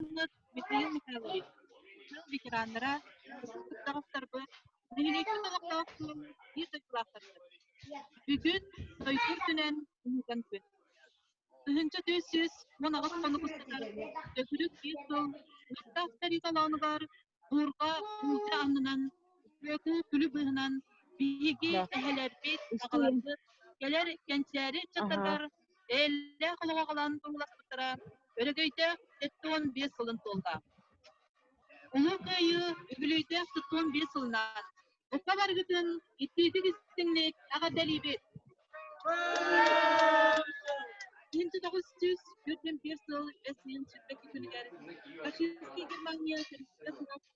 уонна Михаил Михайлович, сыл ветераннара, Саховтарбыт, нэһилиэкпит олохтоох суол биир дойдулаахтарбыт. Бүгүн дойду үрдүнэн уһуган күн. Тыһыынча түөрт сүүс уон аҕыс хонук устата Дөкүрүк биир сыл Мустаах сэрии толоонугар буурга уулдьа аннынан үтүөкүү күлү быыһынан биһиги эһэлэрбит, аҕаларбыт кэлэр кэнчээри ыччаттаргар Эйэлээх олоҕу холоон турууласпыттара өрөгөйдөөх сэттэ уон биэс сылын туолла. Улуу Кыайыы үбүлүйдээх сэттэ уон биэс сылынан букка барыгытын иттиитик истиҥник эҕэрдэлиибит! Инту тоҕус сүүс түөртэн биир сыл эсмин сүрбэки күнүгэр фашистский Германия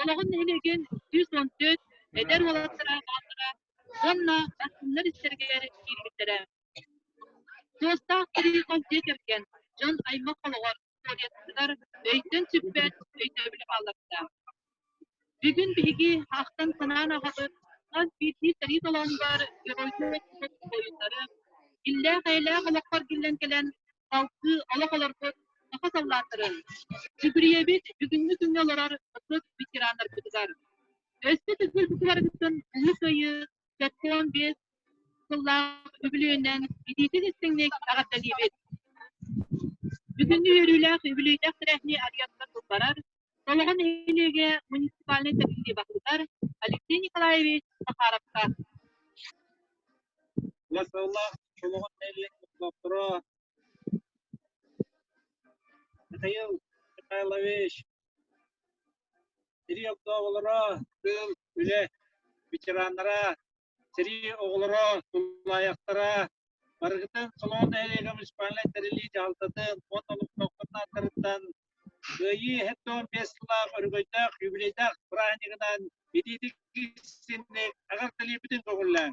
Олоҕун нэһилиэгин сүүс уон төрт эдэр уолаттара бааллара уонна астыннар истэригэр киирбиттэрэ. Туостаах тирии хос дьиэ кэргэн дьон аймах олоҕор туориятыгар өйтөн сүппэт өйдөөбүлэ баалларда. Бүгүн биһиги ахтан-санаан аҕабыт хас биирдии сэрии толоонугар геройдуу буолуттары, иллээх-эйэлээх олохпор киллэн кэлэн Алтыы олох олорбут саха саллааттарын, Дьүгүрүйэбит бүгүҥҥү күҥҥэ олорор норуот ветераннарбытыгар, өссө төгүл бу кыһаргыттан ыһыы кыайыы сэттэ уон биэс сыллаах үбүлүөйүнэн илиитин истиҥник эҕэрдэлиибит! Бүгүн үөрүүлээх үбүлүөйдээх тэрээһини арыйан тылбарар Салаҕа нэһилиэгэ муниципальнай тэриллии баһылыгар Алексей Николаевич Захаровка Сэрии оҕолоро, тулаайахтара барыгытын Солоҕон нэһилиэгэ муниципальнай тэриллии дьаһалтатын уонна олохтоохторунан Кыайыы эһэт уон биэс сыллаах өрөгөйдөөх юбилейдаах празднигынан илиитик истинник аҕарталыйбытын көҥүллээҥ.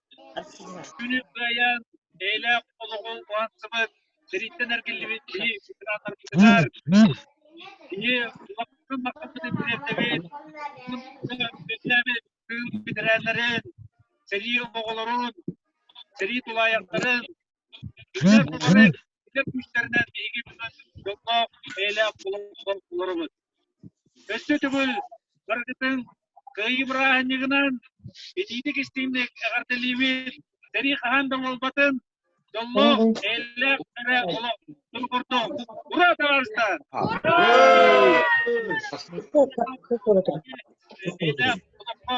Күнүс Кыайаан бэйэлээх олоҕун уһансыбыт, сэрииттэн эргиллибит киһи губернаторбытыгар киһи улахан махтаммытын тириэрдэбит, бэтэрээннэрин, сэрии обоҕолорун, сэрии тулаайахтарын, Дьэ, буолара ити күүстэринэн биһиги дьоҥҥо бэйэлээх олох олоробут. Өссө төгүл барытын кыайыы бырааһынньыгынан итиитик-истиҥник эҕэрдэлиибит! Сэрии хаһан да буолбатын! Дьоллоох, эйэлээх эрэ олох тыл ордо! Ура, табаарыстар! Эйэлээх олоххо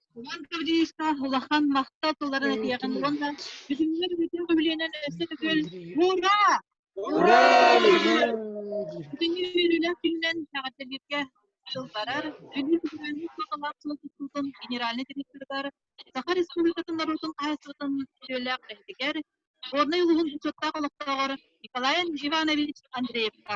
Иван Гаврилович улахан махтал тылларын этиэҕин уонна бүтүннэр бүтүн үбүлүөнэн өссө төгүл ура! Ура! Бүтүннэр үөрүүлээх күнүнэн эҕэрдэлииргэ дьыл барар. Бүгүн бүгүҥҥү саҕалаах сыл тутуутун генеральнай директорыгар Саха Республикатын норуотун хаһыатыттан сөбүлээх үлэһитигэр, Горнай улууһун бочуоттаах олохтооҕор Николай Иванович Андреевка,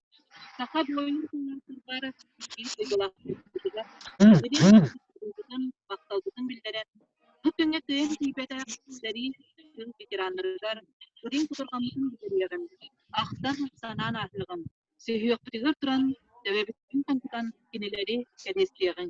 Саха буойун куйаасырбар ис дьулаахпытыгар, махталбытын биллэрэн, бу күҥҥэ кыайан тиийбэтэх сэрии күн ветераннарыгар үрүҥ кутурҕаммытын бүлдүрүйэҕин, ахтар санаан ааһыаҕын, сүһүөхпүтүгэр туран төбөбүттэн тоҥкутан кинилэри кэниэстиэҕиҥ.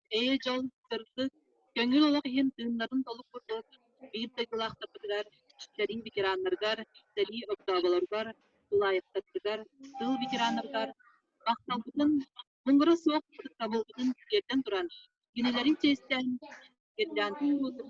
Ээ, дьол, сырдык, көҥүл олох иһин тыыннарын толук курдук биир дойдулаахтарбытыгар, сэрии ветераннарыгар, сэрии огдооболоругар, тулаайахтарбытыгар, тыыл ветераннарыгар махталбытын, муҥура суох ытыктабылбытын тиэрдэн туран, кинилэрин чиэстээн, гирляндын уотун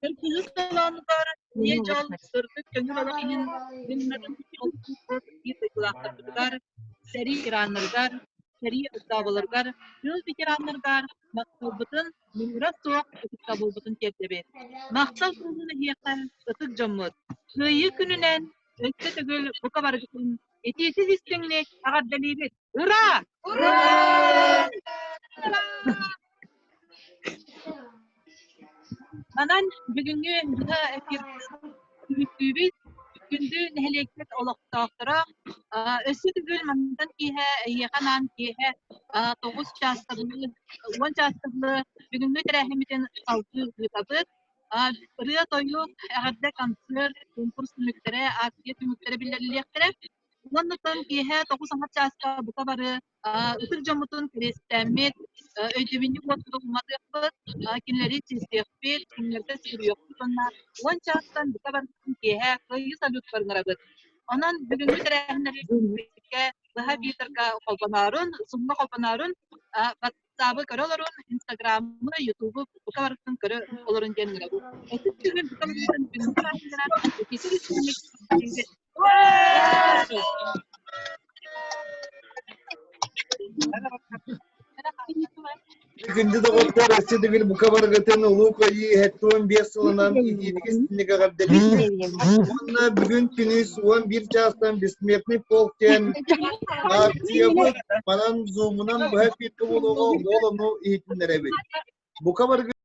Кыргыһыы толоонугар Ийэ Дьол сырдык көҥүл олох иһин гимнарын биир дойдулаахтарбытыгар, сэрии ветераннарыгар, сэрии ыстаабыларыгар, тыыл ветераннарыгар махталбытын, муҥура суох ытыктабылбытын тиэрдэбит. Махтал куруһун эһиэхэ, ытык дьоммут! Кыайыы күнүнэн өссө төгүл бука барытын этиisiz истиҥник эҕэрдэлиибит! Ура! Ура! Манан бүгүҥҥү быһа эфирдүүбүт күндү нэһилиэктэр олохтоохторо өссө төгүл мантан киэһэ эһиэхэ анаан киэһэ тоҕус чаастабылы уон чаастабылы бүгүҥҥү тэрээһиммитин салгыы ыытабыт ырыа-тойук эҕэрдэ концерт конкурс түмүктэрэ ааксыйа түмүктэрэ биллэриллиэхтэрэ Уонна тан киэһэ тоҕус аһар чааска бука бары ытык дьоммутун кэриэстээммит, өйдөбүнньүк уотута уматыахпыт, кинилэри чистиэхпит, кинилэргэ сүгүрүйүөхпүт уонна уон чаастан бука барытын киэһэ кыайыы салютпарын арабыт. Онон бүгүҥҥү тэрээһиннэри быһа биитарга холбоноорун, сумма холбоноорун ыстаабы көрө олорон инстаграмы ютубу бука барытын көрө олорон диэн Күндү доҕоттор, өссө бүгүн бука баргытын Улуу Кыайыы хэттуон биэс сылынан иитиитигин синнигэҕэр дэлийтин уонна бүгүн күнүс уон биир чаастан бессмертный полк диэн аартыйабыт Манан зумунан быһа эппиэккэ буолуоҕа ол ону иһитиннэрэбит